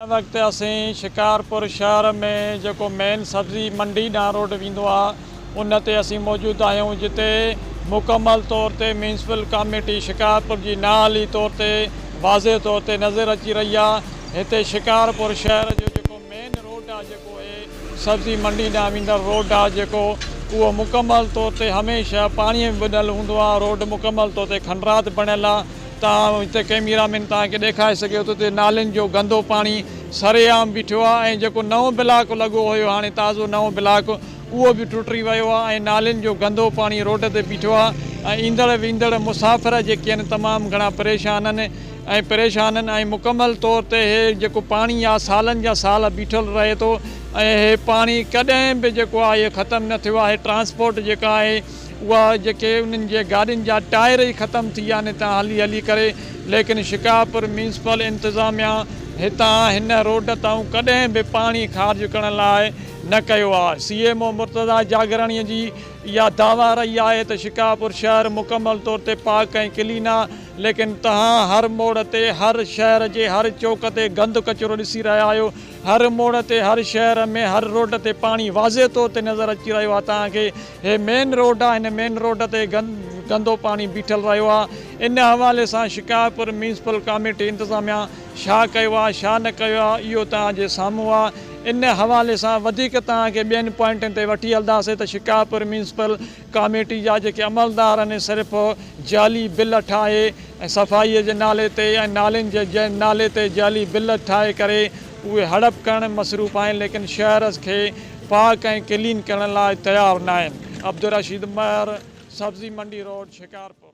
ان وقت اسين شڪارپور شهر ۾ جيڪو مين سبزي منڊي ڏانهن روڊ ويندو آهي ان تي اسين موجود آهيون جتي مڪمل طور تي ميونسپل ڪاميٽي شڪارپور جي نااهلي طور تي واضح طور تي نظر اچي رهي آهي هتي شڪارپور شهر جو جيڪو مين روڊ آهي جيڪو سبزي منڊي ڏانهن ويندڙ روڊ آهي جيڪو اهو مڪمل طور تي هميشه پاڻي ۾ ٻڏل هوندو آهي روڊ مڪمل طور تي کنڊرات بڻيل آهي توهان هتي ڪئميرا مين توهان کي ڏيکاري سگهي ٿو ته نالين جو گندو پاڻي سري عام بيٺو آهي ۽ جيڪو نئون بلاڪ لڳو هيو هاڻي تازو نئون بلاڪ اهو به ٽٽري ويو آهي ۽ نالين جو گندو پاڻي روڊ تي بيٺو آهي ۽ ايندڙ ويندڙ مسافر جيڪي آهن تمام گهڻا پريشان آهن ۽ پريشانن ۽ مڪمل طور تي هي جيڪو پاڻي آ سالن جا سال بيٺل رهي ٿو ۽ هي پاڻي ڪڏهن به جيڪو آ هي ختم نه ٿيو آ هي ٽرانسپورٽ جيڪا آهي اها جيڪي انهن جي گاڏين جا ٽائر ئي ختم ٿي ويا آهن هتان هلي هلي ڪري ليڪن شڪارپور ميونسپل انتظاميا هتان هن روڊ تائون ڪڏهن به پاڻي خارج ڪرڻ لاء نه ڪيو آ C M O Murtaza Jagrani جي اها دعويٰ رهي آهي ته شڪارپور شهر مڪمل طور تي پاڪ ۽ ڪلين آ ليڪن توهان هر موڙ تي هر شهر جي هر چوڪ تي گند ڪچرو ڏسي رهيا آهيو هر موڙ تي هر شهر ۾ هر روڊ تي پاڻي واضح طور تي نظر اچي رهيو آهي توهان کي هي مين روڊ آهي هن مين روڊ تي گندو پاڻي بيٺل رهيو آهي ان حوالي سان شڪارپور ميونسپل ڪاميٽي انتظاميا ڇا ڪيو آهي ڇا نه ڪيو آهي اهو توهان جي سامهون آهي ان حوالي سان وڌيڪ توهان کي ٻين پوائنٽن تي وٺي هلنداسين ته شڪارپور ميونسپل ڪاميٽي جا جيڪي عملدار آهن صرف جعلي بل ٺاهي ۽ صفائي جي نالي تي ۽ نالين جي نالي تي جعلي بل ٺاهي ڪري اهي هڙپ ڪرڻ ۾ مصروف آهن ليڪن شهر کي پاڪ ۽ ڪلين ڪرڻ لاء تيار ناهن عبدالرشيد مهر سبزي منڊي روڊ شڪارپور.